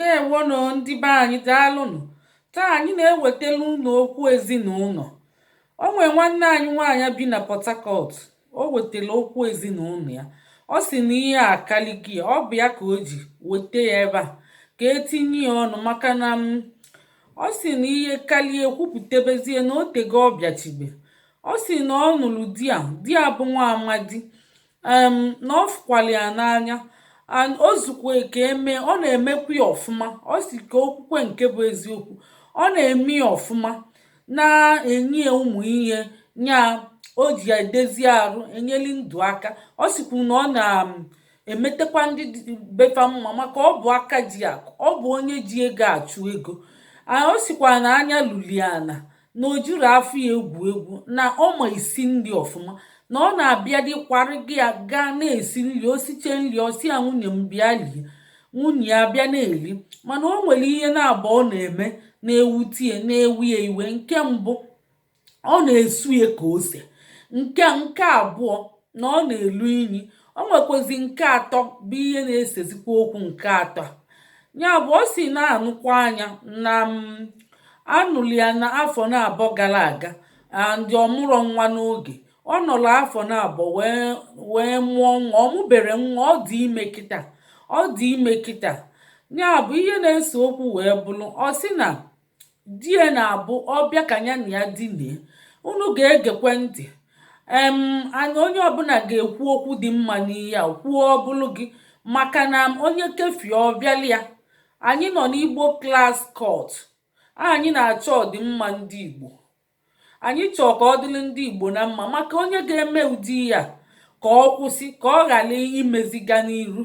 Ndeewonụ ndị be anyị daalụnụ taa anyị na-ewetara unu okwu ezinụlọ o nwee nwanne anyị nwaanyị bi na Port Harcourt o wetara okwu ezinụlọ ya ọ sị na ihe akalịgo ya ọ bụ ya ka o ji weta ya ebe a ka e tinye ya ọnụ maka na em ọ sị na ihe kalịa e kwupụtebezie na o tego ọ bịachibe ọ sị na ọ nụrụ di a di ya bụ nwa amadi um na ọ fụkwara ya n'anya and o zukwa ka eme ọ na-emekwa ya ọfụma ọ sị ka o kwukwee nke bụ eziokwu ọ na-eme ya ọfụma na-enye ya ụmụ ihe nya o ji edezi arụ enyeli ndụ aka ọ sịkwu na ọ na-emetekwa ndị be fa mma maka ọ bụ aka ji akụ ọ bụ onye ji ego achụ ego ọ sịkwa na anya lulu ya ana na o jirọ afọ ya egwu egwu na ọ ma isi nri ọfụma na ọ na-abịa dị kwara gị ya gaa na-esi nri o siche nri ọ sị ya nwunye m bịa lie nwunye ya bịa na-eri mana o nwere ihe naabọ ọ na-eme na-ewute ya na-ewe ya iwe nke mbụ ọ na-esu ya ka ose nke nke abụọ na ọ na-elu inyi O nwekwazi nke atọ bụ ihe na-esezikwa okwu nke atọ a. Ya bụ ọ sị na a nụkwaa nya na em a nụrụ ya na afọ naabọ gara aga and ọ mụrọ nwa n'oge. Ọ nọrọ afọ naabọ wee wee mụọ nwa. Ọ mụberọ nwa, ọ dị ime kịta. Ọ dị ime kịta. Ya bụ ihe na-ese okwu wee bụrụ ọ sị na di ya na-abụ ọ bịa ka ya na ya dinie unu ga-egekwe ntị em anyị onye ọbụla ga-ekwu okwu dị mma n'ihe a kwuo ọ bụlụ gị maka na onye kefie ọ bịala ya anyị nọ n'igbo klas kọt anyị na-achọ ọdịmma ndị igbo Anyị chọọ ka ọ dịrị ndị Igbo na mma maka onye ga-eme ụdị ya ka ọ kwụsị ka ọ ghara imezi gaa n'iru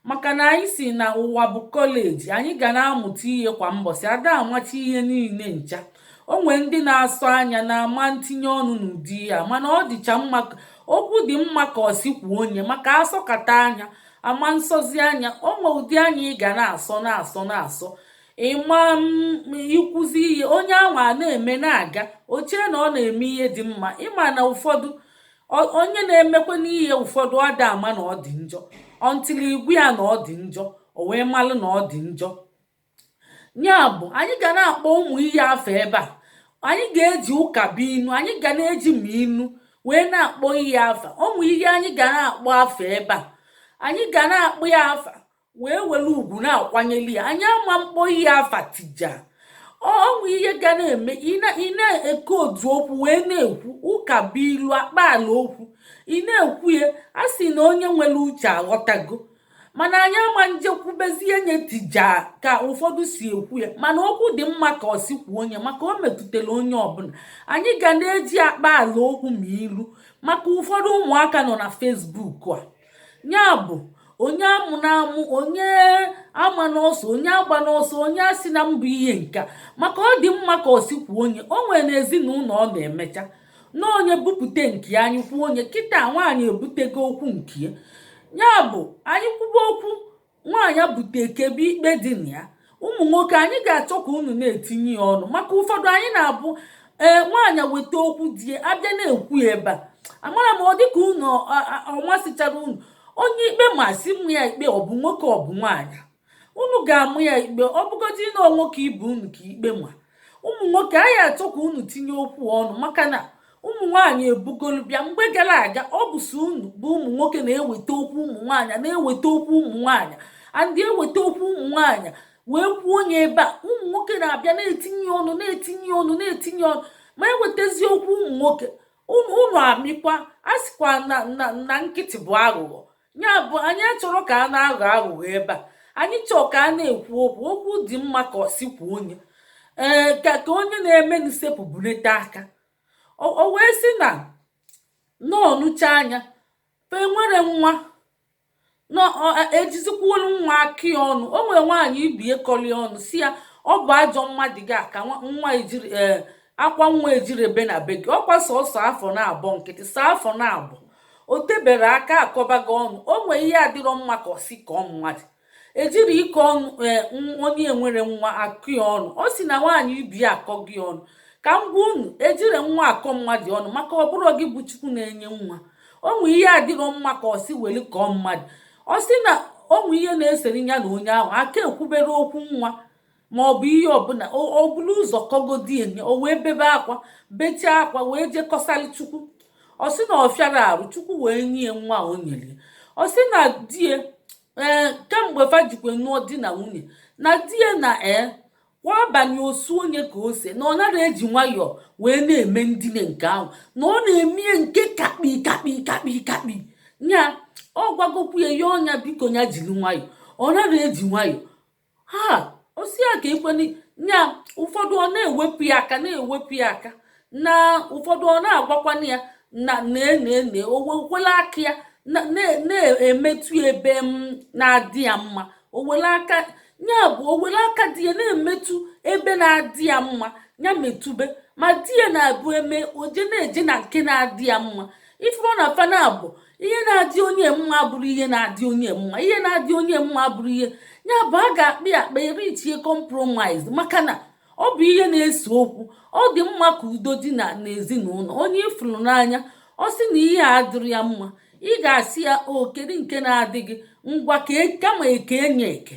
maka na anyị si na ụwa bụ kọleji anyị ga na-amụta ihe kwa mbọsị a da amacha ihe niile ncha o nwee ndị na-asọ anya na a ma ntinye ọnụ n'ụdị ya mana ọ dịcha mma okwu dị mma ka ọ sị kwuo onye maka a sọkata anya a ma nsọzi anya o nwee ụdị anya ị ga na-asọ na-asọ na-asọ ị ma ikwuzi ihe onye anwa na-eme na-aga o chee na ọ na-eme ihe dị mma ị ma na ụfọdụ onye na-emekwa n'ihe ụfọdụ a da ama na ọ dị njọ until ị gwa ya na ọ dị njọ o wee malụ na ọ dị njọ ya bụ anyị ga na-akpọ ụmụ ihe afa ebe a anyị ga-eji ụkabụinu anyị ga na-eji ma inu wee na-akpọ ihe afa ụmụ ihe anyị ga na-akpọ afa ebe a anyị ga na-akpọ ya afa wee were ugwu na-akwanyeli ya anyị ama mkpọ ihe afa tija o nwee ihe ga na-eme ị na-ekwu otu okwu wee na-ekwu ụka bụ ilu akpa ala okwu ị na-ekwu ya a sị na onye nwere uche aghọtago mana anyị ama nje kwubezie nye tija ka ụfọdụ si ekwu ya mana okwu dị mma ka ọ sị kwuo nye maka o metụtara onye ọbụla anyị ga na-eji akpa ala okwu ma ilu maka ụfọdụ ụmụaka nọ na Facebook a ya bụ onye amụna amụ onye amana ọsọ onye agbana ọsọ onye asịna mbụ ihe nka maka ọ dị mma ka ọ sị kwuo nye o nwere na ezinụlọ ọ na-emecha na onye bupute nke anyị kwuo nye kịta nwaanyị ebutego okwu nke ya bụ anyị kwuba okwu nwaanyị bute e kpebe ikpe dị na ya ụmụ nwoke anyị ga-achọ ka unu na-etinye ya ọnụ maka ụfọdụ anyị na-abụ ee nwaanyị weta okwu di ya abịa na-ekwu ya ebe a amara m ọ dịka unu ọ masịchara unu onye ikpe ma sị ma ya ikpe ọ bụ nwoke ọ bụ nwaanyị unu ga-ama ya ikpe ọ bụgodị na nwoke ibe unu ka ikpe ma ụmụ nwoke anyị achọ ka unu tinye okwu ọnụ maka na ụmụ nwaanyị ebugolu bịa mgbe gara aga ọ bụ sọ unu bụ ụmụ nwoke na-eweta okwu ụmụ nwaanyị na-eweta okwu ụmụ nwaanyị and eweta okwu ụmụ nwaanyị wee kwuo nye ebe a ụmụ nwoke na-abịa na-etinye ọnụ na-etinye ọnụ na-etinye ọnụ ma ewetazi okwu ụmụ nwoke unu amịkwa a sịkwa na na nkịtị bụ aghụghọ ya bụ anyị achọrọ ka a na-aghọ aghụghọ ebe a anyị chọọ ka a na-ekwu okwu okwu dị mma ka ọ sị kwuo nye ee ka ka onye na-eme nsepụ bulite aka o wee sị na ọ nụchaa nya fa enwerọ nwa na-ejizikwuolu e, nwa akọ ya ọnụ o nwere nwaanyị ibie kọli ọnụ sị ya ọ bụ ajọ mmadụ gị ka nwa ejirọ e, akwa nwa ejirọ ebe na be gị ọkwa sọsọ afọ naabọ nkịtị sọ afọ naabọ o teberọ aka akọbago ya ọnụ o nwee ihe adịrọ mma ka ọ sị kọọ mmadụ ejirọ ịkọ ọnụ ee onye enwerọ nwa akọ ya ọnụ ọ sị na nwaanyị ibe ya akọgo ya ọnụ ka m gwa unu ejirọ nwa akọ mmadụ ọnụ maka ọ bụrọ gị bụ chukwu na-enye nwa o nwee ihe adịrọ mma ka ọ sị weli kọọ mmadụ ọ sị na o nwee ihe na-esere ya na onye ahụ aka ekwuberọ okwu nwa ma ọ bụ ihe ọbụla o bulu ụzọ kọgodie nye o wee bebe akwa bechaa akwa wee jee kọsara chukwu ọ sị na ọ fịara arụ chukwu wee nye ya nwa o nyere ya ọ sị na die ee kemgbe fa jikwe nụọ di na nwunye na die na ee kwa abalị o suo nye ka ose na ọ naghị eji nwayọọ wee na-eme ndine nke ahụ na ọ na-eme nke kakpi kakpi kakpi kakpi ya ọ gwagokwu ya ya o nya biko ya jiri nwayọọ ọ naghị eji nwayọọ ha osi ya ka ikwenị nya ụfọdụ ọ na-ewepụ ya aka na-ewepụ ya aka na ụfọdụ ọ na-agwakwana ya na na-ene owekwela aka ya na-emetụ ebe na-adị ya mma owele aka ya bụ owele aka di ya na-emetụ ebe na-adị ya mma ya metụbe ma di ya naabọ eme oje na-eje na nke na-adị ya mma ifuru na fa naabọ ihe na-adị onye mma bụrụ ihe na-adị onye mma ihe na-adị onye mma bụrụ ihe ya bụ a ga-akpa akpa e reachie compromise maka na ọ bụ ihe na-ese okwu ọ dị mma ka udo dị na n'ezinụlọ onye ịfụrụ n'anya ọ sị na ihe a dịrị ya mma ị ga-asị ya o kedu nke na-adị gị ngwa ka e, kama eke enye eke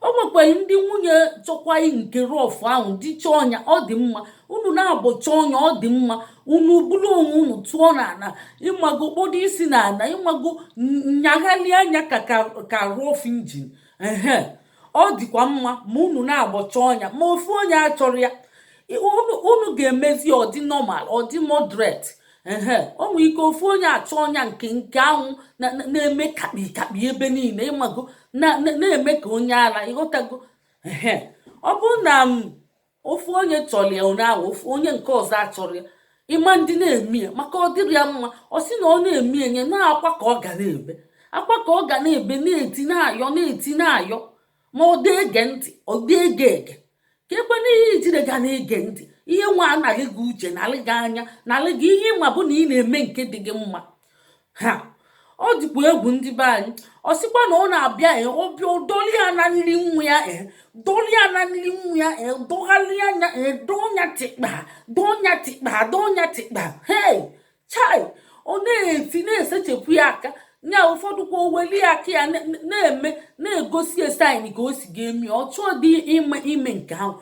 o nwekwaghị ndị nwunye chọkwaghị nke rough ahụ di chọọ ọnya ọ dị mma unu naabọ chọọ ọnya ọ dị mma unu buru onwe unu tụọ n'ana ịmago kpodo isi n'ana ịmago nyaghali anya ka ka rough engine ehe ọ dịkwa mma ma unu naabọ chọọ ọnya ma ofu onye achọrọ ya unu ga-emezi ọ dị normal ọ dị moderate ehe o nwere ike ofu onye achọ ọnya nke nke anwụ na-eme kakpi kakpi ebe niile ịmago na-eme ka onye ala ịghọtago ehe ọ bụrụ na um, ofu onye chọrọ ya ọnya ofu onye nke ọzọ achọrọ ya ịma ndị na-eme ya maka ọ dịrị ya mma ọ sị na ọ na-eme enye na akwa ka ọ ga na-ebe akwa ka ọ ga na-ebe na-eti na-ayọ na-eti na-ayọ ma ọ dị ege ntị ọ dị ege ege ka ekwe n'ihe ijire ga na-ege ntị ihe nwa analị gị uche nalị gị anya nalị gị ihe ma bụ na ị na-eme nke dị gị mma ha ọ dịkwa egwu ndị be anyị ọ sịkwa na ọ na-abịa e ọ bịa dọli ya na nri nwa ya e dọli ya na nri nwa ya e dọgharị ya anya e dọnya tịkpa dọnya tịkpa dọnya tịkpa hei chai ọ na-eti na-esechepụ ya aka nya ụfọdụ kwa oweli aka ya na-eme na-egosi ya sign ka o si ga-emi ọ chọọ dị ime ime nke ahụ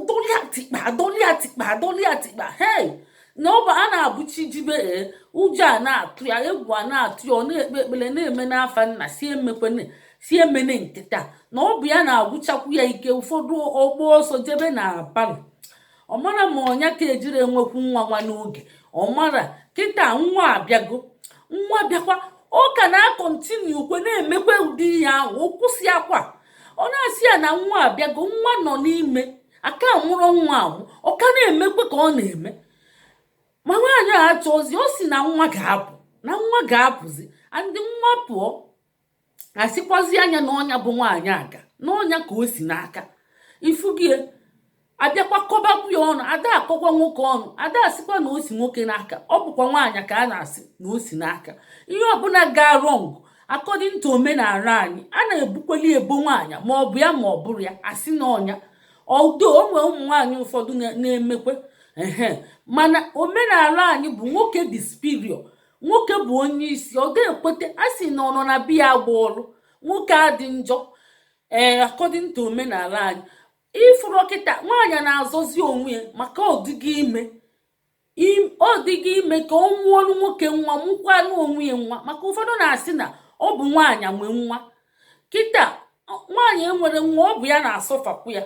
dọlịa tikpa dọlịa tikpa dọlịa tikpa hei na ọ bụ a na-abụ chi jibe e, ụjọ a na-atụ ya egwu a na-atụ ya ọ na-ekpe ekpere na-eme n'afa nna sị emekwene sị emene kịta na ọ bụ ya na-agwụchakwu ya ike ụfọdụ ọ gbaa ọsọ jebe na parlour ọ mara ma ọnya ka ejiri enwekwu nwa nwa n'oge ọ mara kịta nwa abịago nwa bịakwa ọ ka na-acontinuekwe na-emekwa ụdị ihe ahụ o kwụsị akwa ọ na-asị ya na nwa abịago nwa nọ n'ime a ka mụrọ nwa ahụ ọ ka na-emekwe ka ọ na-eme ma nwaanyị a achọzi ọ si na nwa ga-apụ na nwa ga-apụzi and nwa pụọ asịkwazịa ya na ọ nya bụ nwaanyị aga na ọ nya ka o si n'aka ifugie abịakwa kọbakwu ya ọnụ ada akọkwa nwoke ọnụ ada asịkwa na o si nwoke n'aka ọ bụkwa nwaanyị ka a na-asị na o si n'aka ihe ọbụla gaa wrong according to omenala anyị a na-ebokweli ebo nwaanyị ma ọ bụ ya ma ọ bụrọ ya asị na ọ nya though o nwe ụmụ nwaanyị ụfọdụ na-emekwe ehe mana omenala anyị bụ nwoke dị superior nwoke bụ onye isi ọ da-ekwete a sị na ọ nọ na be ya agba ọlụ nwoke adị njọ ee eh, according to omenala anyị ifuru kịta nwaanyị na-azọzi onwe ya maka ọdịgị ime ọ dịghị ime ka ọ mụọrụ nwoke nwa mụkwara onwe ya nwa maka ụfọdụ na-asị na ọ bụ nwaanyị nwe nwa kịta nwaanyị enwerọ nwa ọ bụ ya na-asufferkwu ya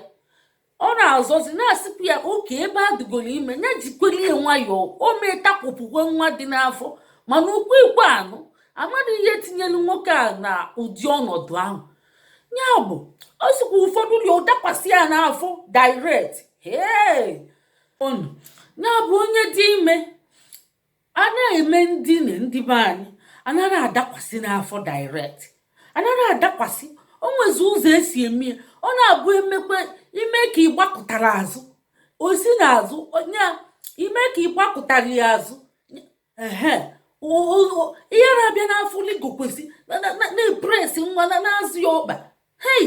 ọ na-azọzi na-asịkwa ya okay ebe a dịgoro ime ya jikwere ya nwayọọ o mee takwụpụkwe nwa dị n'afọ mana okwu ikwe anụ amadị ihe tinyere nwoke a na ụdị ọnọdụ ahụ ya bụ ọ sịkwa ụfọdụ rigo dakwasị ya n'afọ direct ya bụ onye dị ime a na-eme ndị ne ndị be anyị anaghị adakwasị n'afọ direct anaghị adakwasị o nwezi ụzọ esi eme ya ọ na-abụ emekwe ime ka ị gbakụtara azụ o si n'azụ onye a ime ka ị gbakụtara ya azụ ehe o- o- o- ihe na-abịa n'afọ ligokwasị na- na- na- na-epress nwa na na-azọ ya ọkpa hei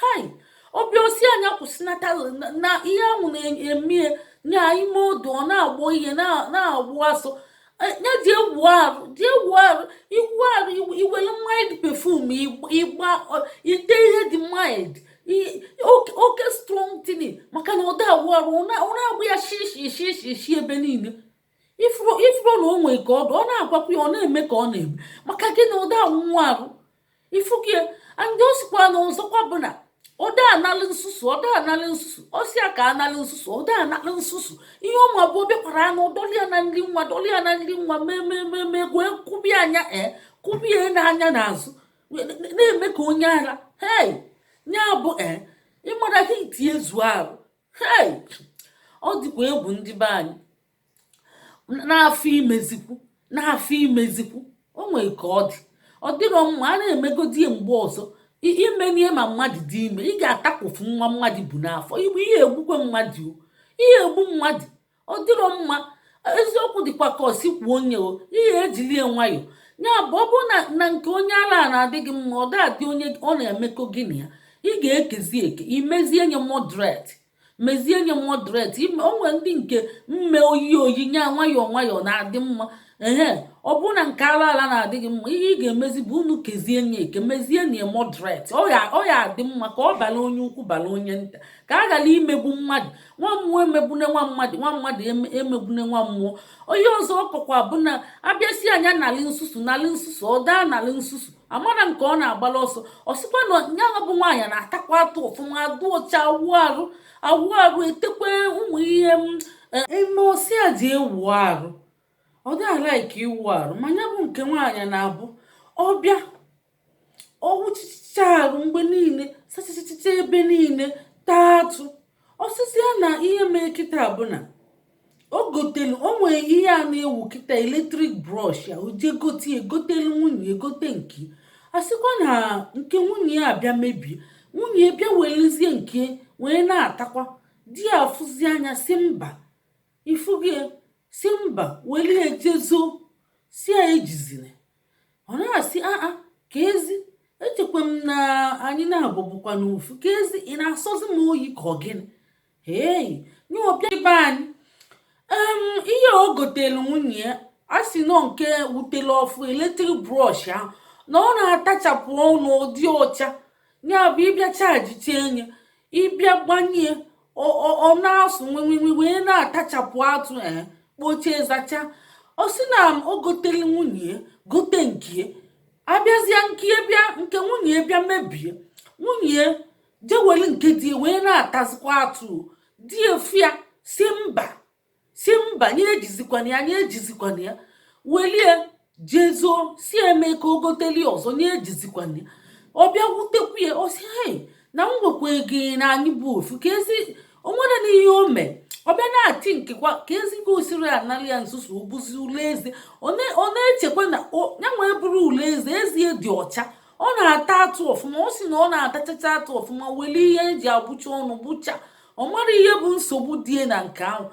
hai ọ bịa ọ sị nya kwụsịnata na ihe ahụ na-eme ya ime odu ọ na-agbọ ihe na-agbụ asụ e, ya jee wụ arụ jee wụ arụ ị wụ arụ i were mild perfume ị gba i te ihe dị mild oke strong thing maka na ọ da awụ arụ ọ na-agbụ ya shishi shishi shi ebe niile ifuru na o nwere ka ọ ọ na-agwakwa ya ọ na-eme ka ọ na-eme maka gị na ọ da awụ nwa arụ ifugie ndị ọ sịkwa na ọzọkwa bụ na ọda analụ nsusu ọda analụ nsusu osi a ka analụ nsusu ọda analụ nsusu ihe ọ ma bụ ọ bịakwaranụ dọlịa na nri nwa dọlịa na nri nwa memememe gwee kụbie anya ee kụbie n'anya n'azụ na-eme ka onye ara hei ya bụ ee ịmara ka itinye zuo arụ hei ọ dịkwa egwu ndị be anyị n'afọ imezikwu n'afọ imezikwu o nwere ka ọ dị ọ dịrọ mma a na-emegodi ya mgbe ọzọ i meni ya ma mmadụ dị ime ị ga-atakpụfụ nwa mmadụ bu n'afọ ị ya-egbukwe mmadụ o ị ya-egbu mmadụ ọ dịrọ mma eziokwu dịkwa ka o si kwuo onye o ị ya-ejili ya nwayọ ya bụ ọ bụrụ na na nke onye ala a na-adị gị mma ọ da-adị onye ọ na-emekọ gị na ya ị ga-ekezi eke i mezie nya moderate mezie nye moderate o nwere ndị nke mme oyi oyi nya nwayọọ nwayọọ na-adị mma ehe ọ bụrụ na nke ala ala na-adịghị mma ihe ị ga-emezi bụ unu kezie nye eke mezie nye moderate ọ ya ọ ya adị mma ka ọ bala onye ukwu bala onye nta ka a ghara imegbu mmadụ nwa mmụọ emegbune nwa mmadụ nwa mmadụ eme- emegbune nwa mmụọ onye ọzọ ọ kọkwa bụ na a bịa sị a nya nalị nsusu nalị nsusu ọ daa nalị nsusu amara nke ọ na-agbala ọsọ ọ sịkwa na nyanwa bụ nwaanyị na-atakwa atụ ọfụma adị ọcha awụ arụ awụ arụ etekwe ụmụ ihe eme ọ sịa di e wụ arụ ọ daa like ịwụ arụ ma ya bụ nke nwaanyị na-abụ ọ bịa ọ wụchacha arụ mgbe niile sachachacha ebe niile taa atụ ọ sịzịa na ihe mee kịta bụ na o gotelu o nwere ihe a na-ewu kịta eletrik brọsh ya o jee gote ya gotelu nwunye ya gote nke a sịkwa na nke nwunye ya abịa mebie nwunye ya bịa welezie nke wee na-atakwa di ya afụzịa nya sị mba ifugie sị mba welie jezo sị ya ejizina ọ na-asị aa keezi echekwa m na anyị naabọ bụkwanụ ofu keezi ị na-asọzi m oyi ka ọ gịnị hei nya ọ bịa ibe anyị ihe o gotelu nwunye ya a sị na ọ nke pụtala ọfụ eletrik brọsh ahụ na ọ na-atachapụ ọnụ ọ dị ọcha ya bụ ị bịa chajichaa nya ị bịa gbanye ọ na-asụ nwenwenwe wee na-atachapụ atụ e, kpochie zacha ọ sị na o gotelu nwunye gote nke abịazịa nke bịa nke nwunye bịa mebie nwunye jeweli nke di wee na-atazikwa atụ di afụ ya sị mba sị mba nya ejizikwana ya nya ejizikwana ya welie jezo sị e mee ka o goteli ọzọ nya ejizikwana ya ọ bịa wutekwu ya ọ sị hei na m chekwa na anyị bụ ofu keezi o nwere na ihe o mee ọ bịa na-ati nkekwa keezi ka o siri anara ya nsusu ọ bụzi ule eze ọ na-echekwa na ya nweburu ule eze eze e dị ọcha ọ na-ata atụ ọfụma ọ sị na ọ na-atachacha atụ ọfụma weli ihe e ji agbụcha ọnụ gbụcha ọ mara ihe bụ nsogbu di e na nke ahụ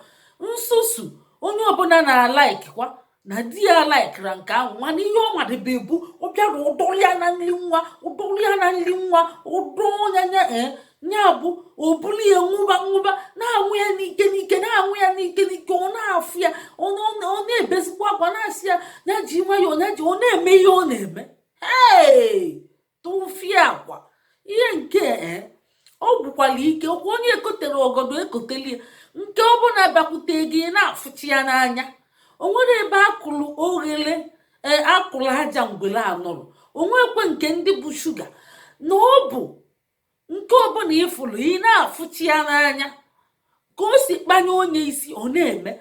nsusu onye ọbụla na-alaikikwa na di ya alaikirọ nke ahụ mana ihe ọ madịbe bụ ọ bịara ọ dọrọ ya na nri nwa ọ dọrọ ya na nri nwa ọ dọ nya nya eh, ya bụ o bulu ya ṅụba ṅụba na-aṅụ ya n'ike n'ike na-aṅụ ya n'ike n'ike ọ na-afụ ya ọ na-ebezikwa akwa na-asị ya ya ji nwayọọ ya ji ọ na-eme ihe ọ na-eme ee tụfịakwa ihe nke eh, ọ gwụkwara ike okwu onye ekotere ọgọdọ ekoteli nke ọbụla bịakwute gị na-afụchi ya n'anya o nwere ebe a kụrụ oghere e, a kụrụ aja ngwere anọrọ o nwekwe nke ndị bụ shuga na ọ bụ nke ọbụla ị fụlụ ị na-afụchi ya n'anya ka o si kpanye onye isi ọ na-eme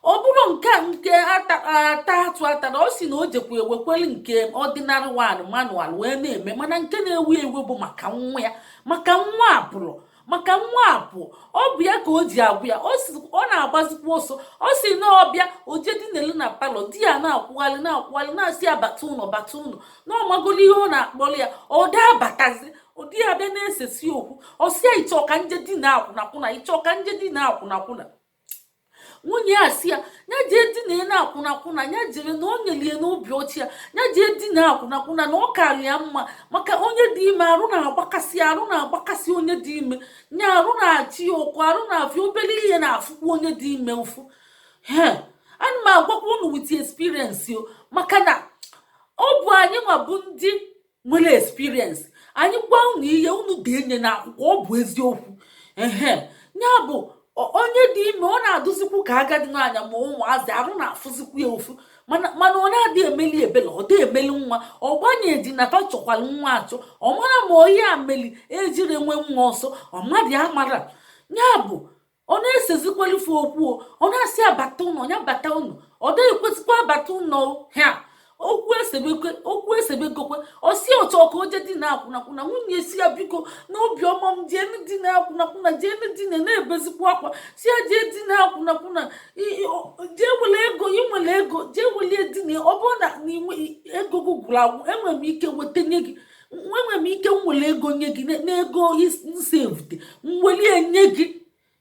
ọ bụrụ nke a nke ata atụ atara ọ sị na o jekwa ewekwere nke ordinary one manual wee na-eme mana nke na-ewu ewu bụ maka nwa ya maka nwa apụọ maka nwa apụ ọ bụ ya ka o ji agwụ ya ọ na-agbazikwa ọsọ ọ sị na ọ bịa o jee dinelu na palọ di ya na-akwụgharị na-akwụgharị na-asị ya bata ụnọ bata ụnọ na ọ magolu ihe ọ na-akpọlụ ya ọ da abatazi di ya bịa na-esesi okwu ọ sị ya ị chọ ka m jee dina akwụnakwụna ị chọ ka m jee dina akwụnakwụna nwunye ya sị ya ya jee dina akwụnakwụna ya jere na o nyelie n'obi ọcha ya jee dina akwụnakwụna na ọ kara ya mma maka onye dị ime arụ na-agbakasị arụ na-agbakasị onye dị ime nya arụ na-achị ya ụkwụ arụ na-afịa obere ihe na-afụkwu onye dị ime ụfụ he ana m agwakwa unu with experience o maka na ọ bụ anyị nwa bụ ndị nwere experience anyị gwa unu ihe unu denye na akwụkwọ ọ bụ eziokwu ehe nya bụ onye dị ime ọ na-adịzikwu ka agadi nwaanyị ma ụmụazị arụ na-afụzikwu ya ụfụ mana ọ na-adị emeli ebele ọ dị emeli nwa ọ gbanye di na ta chọkwara nwa achọ ọ mara ma onye a meli ejiri nwe nwa ọsọ ọ mmadụ amara nya bụ ọ na-esezikwalufe okwu ọ na-asị ya bata ụnọ ya bata ụnọ ọ dịghị ekwezikwa abata ụnọ ha okwu esebekwe okwu esebegokwe ọ sị ya ọ chọ ka o jee dina akwụnakwụna nwunye sị ya biko na obiọma m jeenụ dina akwụnakwụna jeenụ dina na-ebezikwa akwa sị ya jee dina akwụnakwụna jee wele ego i nwele ego jee welie dina ọ bụrụ na ego gị gwụrụ agwụ enwere m ike weta nye gị enwere m ike nwere ego nye gị n'ego m savute m welie nye gị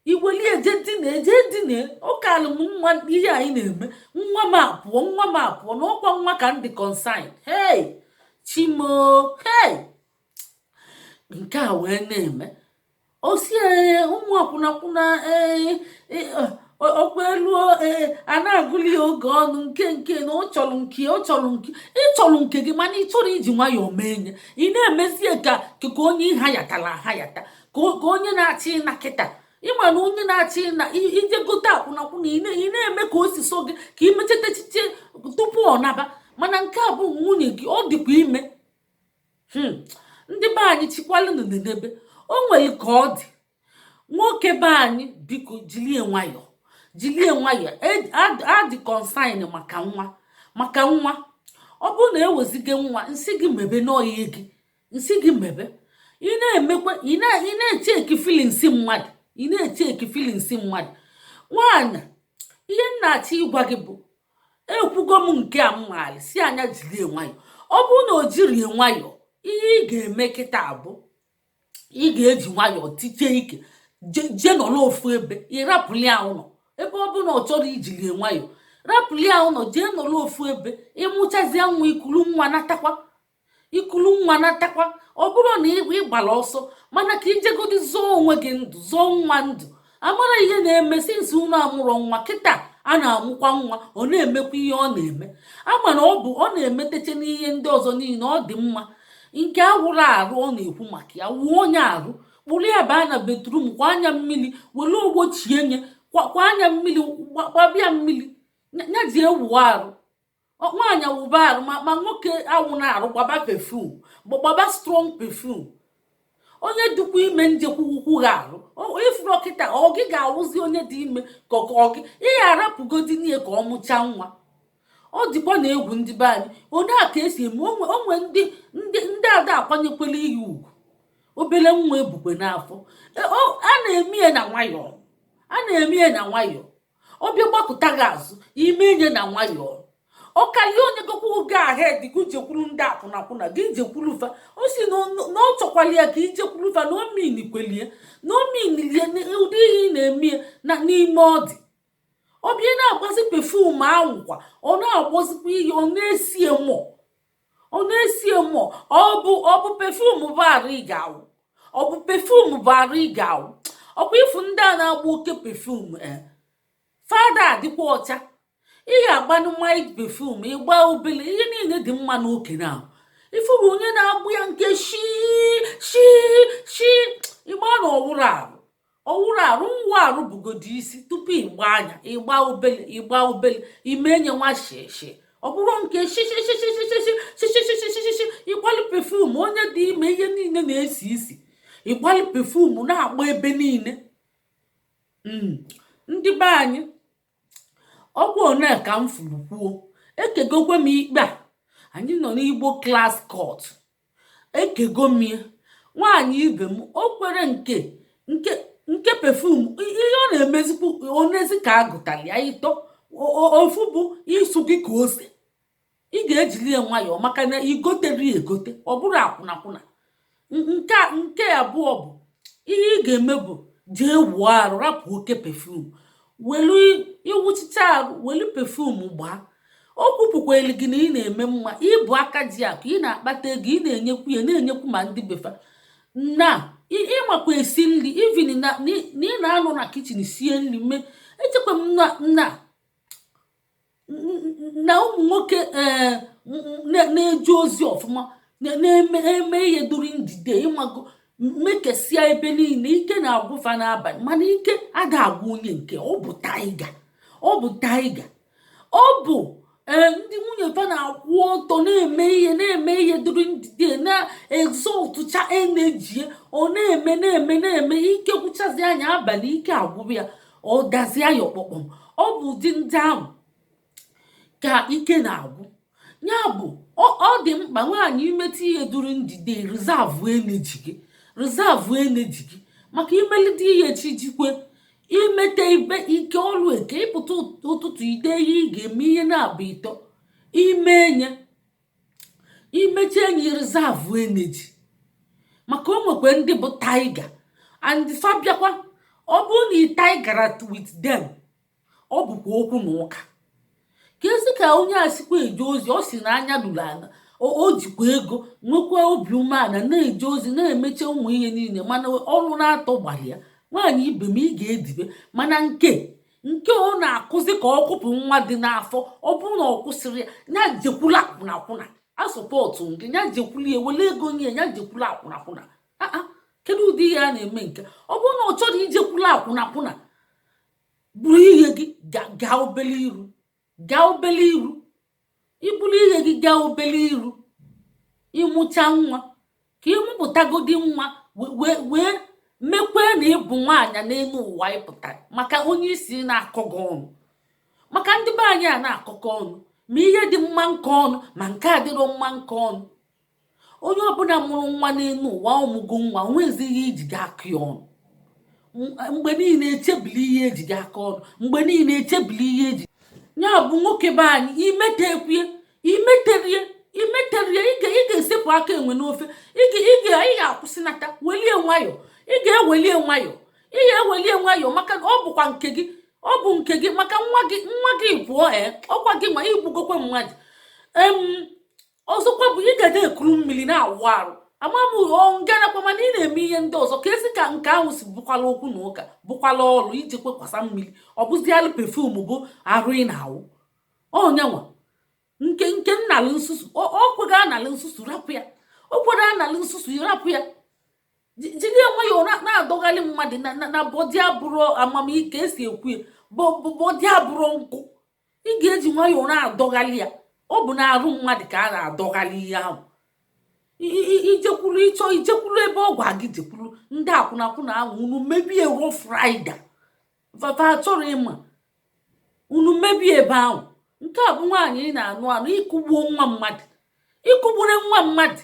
i welie jee dina jee dina ọ kalụ m mma ihe anyị na-eme nwa m apụọ nwa m apụọ na ọ kwa nwa ka m dị concern hey chi m o hey nke a wee na-eme ọ sị ee ụmụ akwụnakwụna ee ọ kwa elu ee a na-agụli ya oge ọnụ nke nke na ọ chọrọ nke ọ chọrọ nke ị chọrọ nke gị mana ị chọrọ iji nwayọọ mee nya ị na-emezie ka ka onye a hayatara ahayata ka onye na-achị na kịta ị ma na onye na-achị na i jee gote akwụnakwụna ị na-eme ka o si sọ gị ka ị mechata echiche tupu ọ naba mana nke a bụ nwunye gị ọ dịkwa ime hmm. ndị be anyị chịkwalụnụ n'ebe o nwere ka ọ dị nwoke be anyị biko jilie nwayọ jilie nwayọ e, a dị concern maka nwa maka nwa ọ bụrụ na eweziga nwa m sị gị mebe n'ọ ihe gị m sị gị mebe ị na-emekwa ị na-echeki feelings mmadụ ị na-echeki feelings mmadụ nwaanyị ihe m na-achọ ịgwa gị bụ ekwugo m nke a m maara sị a nya jirie nwayọ ọ bụrụ na o jirie nwayọ ihe ị ga-eme kịta a bụ ị ga-eji nwayọ tichie ike jee nọrọ ofu ebe ị rapụli ya ụlọ ebe ọ bụ na ọ chọrọ i jirie nwayọ rapụli ya ụlọ jee nọrọ ofu ebe ị mụchazie nwa i kuru nwa natakwa i kulu nwa natakwa ọ bụrọ na ị gbara ọsọ mana ka i jegodi zọọ onwe gị ndụ zọọ nwa ndụ a mara ihe na-eme since unu amụrọ nwa kịta a na-amụkwa nwa ọ na-emekwa ihe ọ na-eme a ma na ọ bụ ọ na-emetecha n'ihe ndị ọzọ niile ọ dị mma nke awụrọ arụ ọ na-ekwu maka ya wụọ nya arụ kpụrụ ya baa na bathroom kwaa nya mmiri were ogbo chie nya kwaa nya mmiri kwaba ya mmiri ya jee wụọ arụ nwaanyị awụba arụ ma ma nwoke awụna arụ gbaba perfume gbaba strong perfume onye dịkwa ime njekwukwukwu ha arụ ị fụrụ kịta ọ gị ga-awụzi onye dị ime ka ọ gị ị ga-arapụgodinụ ya ka ọ mụchaa nwa ọ dịkwanụ egwu ndị be anyị onye a ka e si eme o nwe ndị ndị ndị ada akwanyekwela iyi ugwu obere nwa e bukwa n'afọ e, a na-eme ya na nwayọọ a na-eme ya na nwayọọ ọ bịa gbakụta gị azụ i mee nya na nwayọọ ọ karịa o nyegokwu gị go ahead gị jekwuru ndị akwụnakwụna gị jekwuru fa ọ sị na ọ chọkwala ya ka i jekwuru fa na omin kwelie na omin lie ụdị ihe ị na-eme ya n'ime ọ dị ọ bịa na-agbazi perfume ahụ kwa ọ na-agbazikwa ihe ọ na-esi mọ ọ na-esie mmụọ ọ bụ ọ bụ perfume bụ arụ ị ga-awụ ọ bụ perfume bụ arụ ị ga-awụ ọ kwa ị fụ ndị a na-agba oke perfume e. fa ada adịkwa ọcha ị ga-agbanụ mild perfume ị gbaa obele ihe niile dị mma n'oke na ị fụrụ onye na-agba ya nke shi shi shi ị ma na ọ wụrọ arụ ọ wụrọ arụ ịwụ arụ bụgodo isi tupu ị gbaa nya ị gbaa obele ị gbaa obele i mee nya nwa shishi ọ bụrụ nke shishishi ị gbalụ perfume onye dị ime ihe niile na-esi isi ị gbalụ perfume na-agba ebe niile ndị be anyị ọ bụ one ka m fụrụ kwuo ekegokwe m ikpe a anyị nọ n'Igbo Class Court ekego m ya nwaanyị ibe m o kwere nke nke nke perfume ihe ọ na-emezikwu onezi ka a gụtara ya ịtọ o- o- ofu bụ ịsụ gị ka ose ị ga-ejili ya nwayọọ maka na i goterọ ya egote ọ bụrọ akwụnakwụna N- nke a- nke abụọ bụ ihe ị ga-eme bụ jee wụọ arụ rapụ oke perfume welu ị wụchicha arụ welu perfume gbaa o kwupụkwara gị na ị na-eme mma ị bụ aka ji akụ ị na-akpata ego ị na-enyekwu ya na-enyekwu ma ndị be fa na ị makwa esi nri even na ị na-anọ na kitchen sie nri mee echekwa m na na na ụmụ nwoke eh, na-eje ozi ọfụma na-eme ihe duru ndide ị mago mekesịa ebe niile ike na-agwụ fa n'abalị mana ike ada agwụ onye nke bụ tiger ọ bụ tiger ọ bụ ee eh, ndị nwunye fa na-akwụ ọtọ na-eme ihe na-eme ihe dịrị ndidi na-exhaustcha energy ya ọ na-eme na-eme na-eme ike gwụchazia nya abalị ike agwụrụ ya ọ dazie ya ọkpọkpọm ọ bụ ụdị ndị ahụ ka ike na-agwụ ya bụ ọ dị mkpa nwaanyị ị meta ihe duru ndidi reserve energy gị reserve energy gị maka imelite ihe chi jikwe imeta ibe ike ọlụ eke ị pụta ụtụtụ i dee ihe ị ga-eme ihe naabọ ịtọ i mee nya i mechie nya reserve energy maka o nwekwa ndị bụ tiger and fa bịakwa ọ bụrụ na ị tigera with them ọ bụkwa okwu na ụka ka esi ka onye a sikwa eje ozi ọ sị na anya ruru ala o jikwa ego nwekwa obi umeala na-eje ozi na-emecha ụmụ ihe niile mana ọrụ na-atọ gbara ya nwaanyị ibe m ị ga-edibe mana nke nke ọ na-akụzi ka ọ kụpụ nwa dị n'afọ ọ bụrụ na ọ kwụsịrị ya jekwula akwụnakwụna a support nke ya jekwula ya wele ego nye ya jekwula akwụnakwụna aa kedu ụdị ihe a na-eme nke ọ bụrụ na ọ chọrọ ijekwula akwụnakwụna buru ihe gị gaa obele iru gaa obele iru i buru ihe gị gaa obele iru ị mụcha nwa ka ị mụpụtagodi nwa wee wee mekwee na ị bụ nwaanyị n'elu ụwa ị pụtara maka onye isi na-akọ gị ọnụ maka ndị be anyị a na-akọkọ ọnụ ma ihe dị mma nke ọnụ ma nke adịrọ mma nke ọnụ onye ọbụla mụrụ nwa n'elu ụwa ọ mụgo nwa o nwezi ihe e ji gị akọ ya ọnụ mgbe niile echebili ihe eji gị akọ ọnụ mgbe niile echebili ihe eji ya bụ nwoke be anyị imetekwue imeterie imeterie ị ga-esepụ aka enwe n'ofe ị ga-akwụsịnata welie nwayọọ ị ga-ewelie nwayọọ ị ga-ewelie nwayọọ maka na ọ bụkwa nke gị ọ bụ nke gị maka nwa gị nwa gị pụọ ee eh, ọ kwa gị ma i gbugokwe mmadụ ọzọkwa bụ ị ga na-ekuru mmiri na-awụ arụ ama m nganakwa mana ị na-eme ihe ndị ọzọ ka esi ka nke ahụ si bụkwala okwu na ụka bụkwala ọrụ iji kwekwasa mmiri ọ bụzialụ perfume bụ arụ ị na-awụ ọnyanwa nke nke nnalụ nsusu ọ kwega analụ nsusu rapụ ya o kwerọ analụ nsusu rapụ ya jiri nwayọọ na-adọgharị mmadụ na body abụrọ ama m ka esi ekwu ya body abụrọ nkụ ị ga-eji nwayọọ na-adọghalị ya ọ bụ na arụ mmadụ ka a na-adọghalị ihe ahụ ijekwuru ịchọ ijekwuru ebe ọ gụa gị jekwuru ndị akwụnakwụna ahụ unu mebie rough rider vava achọrọ ịma unu mebie ebe ahụ nke a bụ nwaanyị ị na-anụ anụ ị kụgbuo nwa mmadụ ị kụgbure nwa mmadụ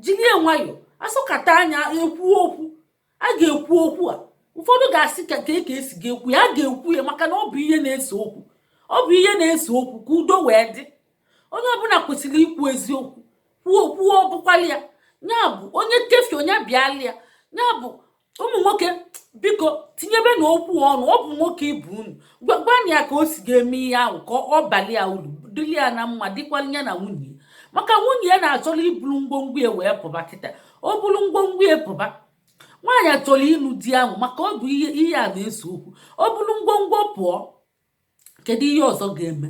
jiri nwayọọ a sọkata anya ekwu okwu a ga-ekwu okwu a ụfọdụ ga-asị kee ka esi ga-ekwu ya a ga-ekwu ya maka na ọ bụ ihe na-ese okwu ọ bụ ihe na-ese okwu ka udo wee dị onye ọbụla kwesịrị ikwu eziokwu kwuo kwuo ọbụkwala ya ya bụ onye kefi onye bịala ya ya bụ ụmụ nwoke biko tinyebenụ okwu ọnụ ọ bụ nwoke ibe unu gwanụ ya ka o si ga-eme ihe ahụ ka ọ baalị ya uru dịrị ya na mma dịkwalị ya na nwunye maka nwunye ya na-achọrọ iburu ngwongwo ya wee pụba kịta o buru ngwongwo ya pụba nwaanyị achọrọ ịnụ di ahụ maka ọ bụ ihe a na-ese okwu o buru ngwongwo pụọ kedu ihe ọzọ ga-eme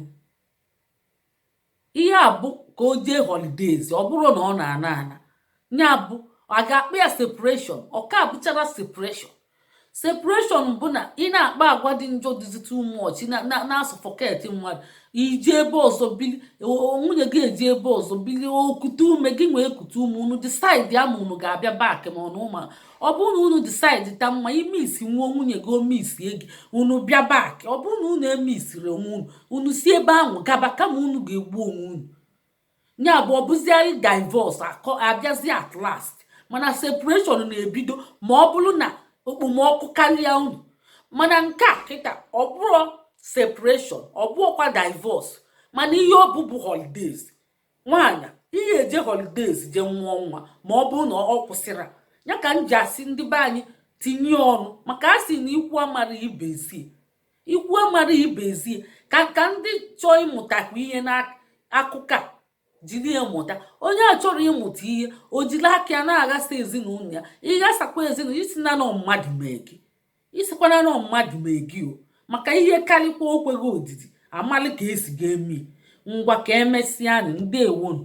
ihe a bụ ka o jee holidays ọ bụrụ na ọ na-ana ana ya bụ a ga-akpọ ya separation ọ ka abụchara separation separation bụ na ị na-akpa agwa dị njọ dịzi too much na-asị fuck it mmadụ i jee ebe ọzọ bili nwunye gị ejee ebe ọzọ bili o kute ume gị nwa ekute ume unu decide ma unu ga-abịa back ma ọ na ụma ọ bụrụ na unu decide ta mma i missie nwa nwunye gị o missie gị unu bịa back ọ bụrụ na unu emissirọ onwe unu unu si ebe ahụ gaba kama unu ga-egbu onwe unu ya bụ ọ bụziarị divorce abịazi at last mana separation na-ebido ma ọ bụrụ na okpomọkụ karịa unu mana nke a kịta ọ bụrọ separation ọ bụọkwa divorce mana ihe ọ bụ bụ holidays nwaanyị ihe eje holidays je nwụọ nwa ma ọ bụrụ na ọ kwụsịra ya ka m ji asị ndị be anyị tinye ọnụ maka a sị na ikwu amara ibe ezie ikwu amara ibe ezie ka ka ndị chọọ ịmụtakwa ihe n'akụkọ a jiri ya mụta onye achọrọ ịmụta ihe o jiri aka ya na-aghasa ezinụlọ ya ị ghasakwa ezinụlọ ị sịna na ọ mmadụ mee gị Ị sịkwana na ọ mmadụ mee gị o maka ihe karịkwa o kweghị odidi a malị ka esi ga-eme ngwa ka emesịanụ ndewonụ.